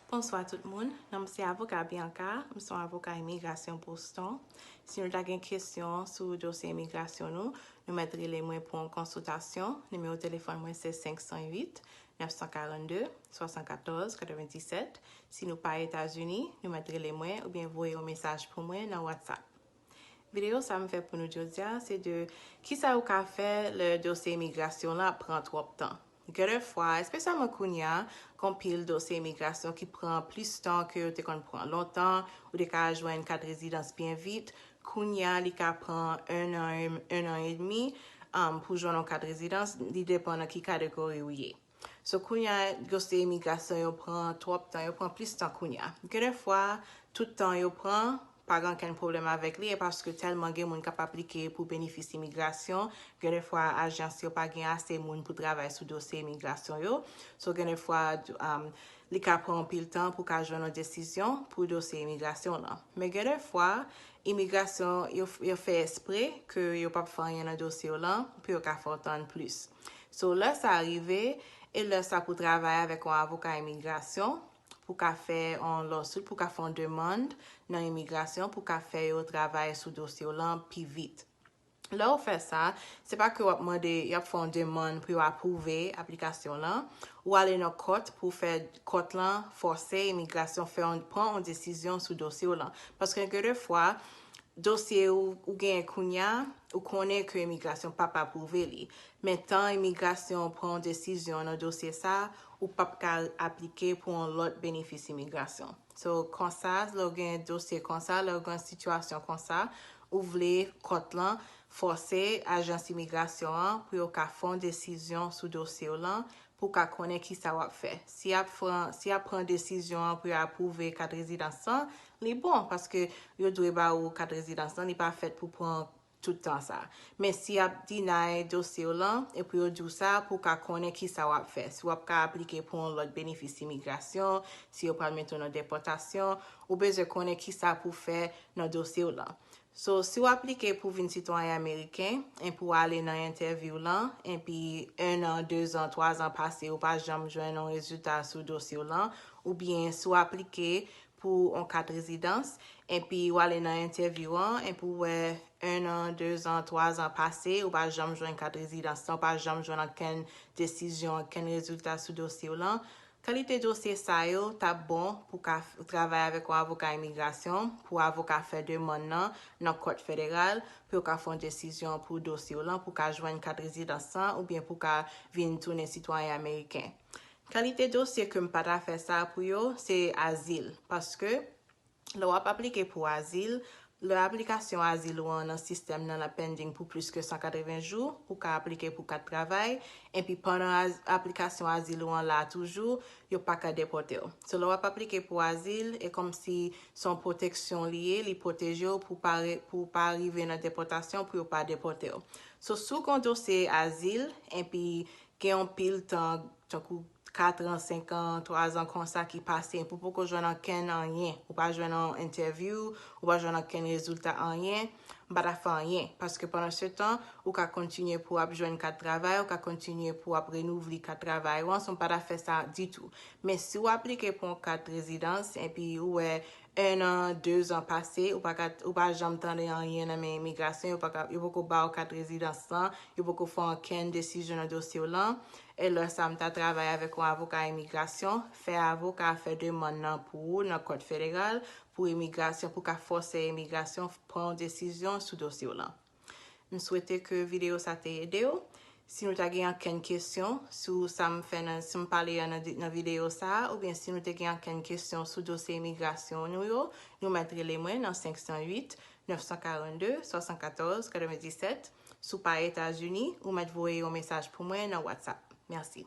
Bonswa tout moun, non m se avoka Bianca, m son avoka imigrasyon Boston. Si nou ta gen kesyon sou dosye imigrasyon nou, nou mèt rele mwen pou yon konsiltasyon, nimewo telefòn mwen se 508 942 74 97, si nou pa Etazini, nou mèt rele mwen oubyen voye yon mesaj pou mwen nan WhatsApp. Videyo sa m fè pou nou jodi a se de kisa ou ka fè lè dosye imigrasyon w la pran twòp tan. Gen de fwa, espesyalman kounye a, gen yon pil dosye imigrasyon ki pran plis tan ke yo te konn pran lontan, ou te ka jwenn kat rezidans byen vit, kounye a li ka pran 1 an, 1 an edmi pou jwenn yon kat rezidans, li depan nan ki kategori ou ye. So kounya dosye imigrasyon yo pran twòp tan, yo pran plis tan kounya. Gen de fwa tout tan yo pran pa gen ankenn pwoblèm avèk li e paske tèlman gen moun k ap aplike pou benefis imigrasyon, gen de fwa ajans yo pa gen ase moun pou travay sou dosye imigrasyon yo. So gen de fwa li ka pran anpil tan pou ka jwenn yon desizyon pou dosye imigrasyon w lan. Men gen de fwa imigrasyon yo fè espre ke yo p ap fè anyen nan dosye w lan pou yo ka fè w tann plis. So lè sa rive, e lè sa pou travay avèk yon avoka imigrasyon pou ka fè yon lawsuit, pou ka fè yon demann nan imigrasyon pou ka fè yo travay sou dosye w lan pi vit. Lè ou fè sa, se pa ke w ap mande, y ap fè yon demann pou yo apwouve aplikasyon w lan, ou ale nan kòt pou fè kòt lan fòse imigrasyon fè yon, pran yon desizyon sou dosye w lan. Paske gen de fwa, dosye ou genyen kounya, ou konnen ke imigrasyon pap apwouve li. Men tan imigrasyon pran yon desizyon nan dosye sa, ou pap ka aplike pou yon lòt benefis imigrasyon. So, konsa, lè ou gen yon dosye konsa, lè ou gen yon sitiyasyon konsa, ou vle kòt lan fòse ajans imigrasyon an pou yo ka fè yon desizyon sou dosye w lan pou w ka konnen kisa wap fè. Si yap fran si yap pran desizyon an pou yo apwouve kat rezidans lan, li bon paske yo dwe ba ou kat rezidans lan, li pa fèt pou pran tout tan sa. Men si yap deny dosye w lan epi yo di w sa pou w ka konnen kisa wap fè, si wap ka aplike pou yon lòt benefis imigrasyon, si yo pral mete w nan depòtasyon, ou bezwen konnen kisa pou w fè nan dosye w lan. So si w aplike pou vin sitwayen ameriken, enpi w ale nan entèvyou lan, enpi 1 an, 2 zan, 3 zan pase ou pa janm jwenn on rezilta sou dosye w lan, oubyen si w aplike pou on kat rezidans, enpi w ale nan entèvyou an, enpi w wè 1 an, 2 zan, 3 zan pase ou pa janm jwenn kat rezidans lan, ou pa janm jwenn ankenn desizyon, ankenn rezilta sou dosye w lan, Kalite dosye sa yo t ap bon pou ka travay avèk yon avoka imigrasyon, pou avoka fè demann nan nan kòt federal, pou yo ka fè yon desizyon pou dosye w lan, pou w ka jwenn kat rezidans lan, oubyen pou w ka vin tounen sitwayen ameriken. Kalite dosye ke m pa ta fè sa pou yo, se azil, paske. Lè w ap aplike pou azil, Lè aplikasyon azil ou an nan sistèm nan ap pending pou plis ke 180 jou, ou ka aplike pou kat travay, enpi pandan aplikasyon azil ou an la toujou, yo pa ka depòte w. So lè w ap aplike pou azil, e kòmsi se yon pwoteksyon li ye, li pwoteje w pou w pa rive nan depòtasyon, pou yo pa depòte w. So si w gen yon dosye azil, enpi gen yon pil tan, tankou katran, senkan, twazan konsa ki pase epi w poko jwenn ankenn anyen, ou pa jwenn yon entèvyou, ou pa jwenn ankenn rezilta anyen, m pa ta fè anyen paske pandansetan ou ka kontinye pou w ap jwenn kat travay, ou ka kontinye pou w ap renouvle kat travay ou an, so m pa ta fè sa ditou. Men si w aplike pou yon kat rezidans epi ou wè ennan, dezan pase ou pa ka, ou pa janm tande anyen nan men imigrasyon, yo pa ka, yo poko ba w kat rezidans lan, yo poko fè ankenn desizyon nan dosye w lan, E lè sa m ta travay avèk yon avoka imigrasyon, fè avoka a fè demann nan pou ou nan kòt federal pou imigrasyon pou ka fòse imigrasyon pran yon desizyon sou dosye w lan. M swete ke videyo sa te ede w. Si nou ta gen ankenn kesyon sou sa m fè nan sa m pale an nan videyo sa a oubyen si nou te gen ankenn kesyon sou dosye imigrasyon nou yo, nou mèt rele mwen nan 508 942 74 97. Si w pa Etazini, ou mèt voye yon mesaj pou mwen nan WhatsApp. Mèsi.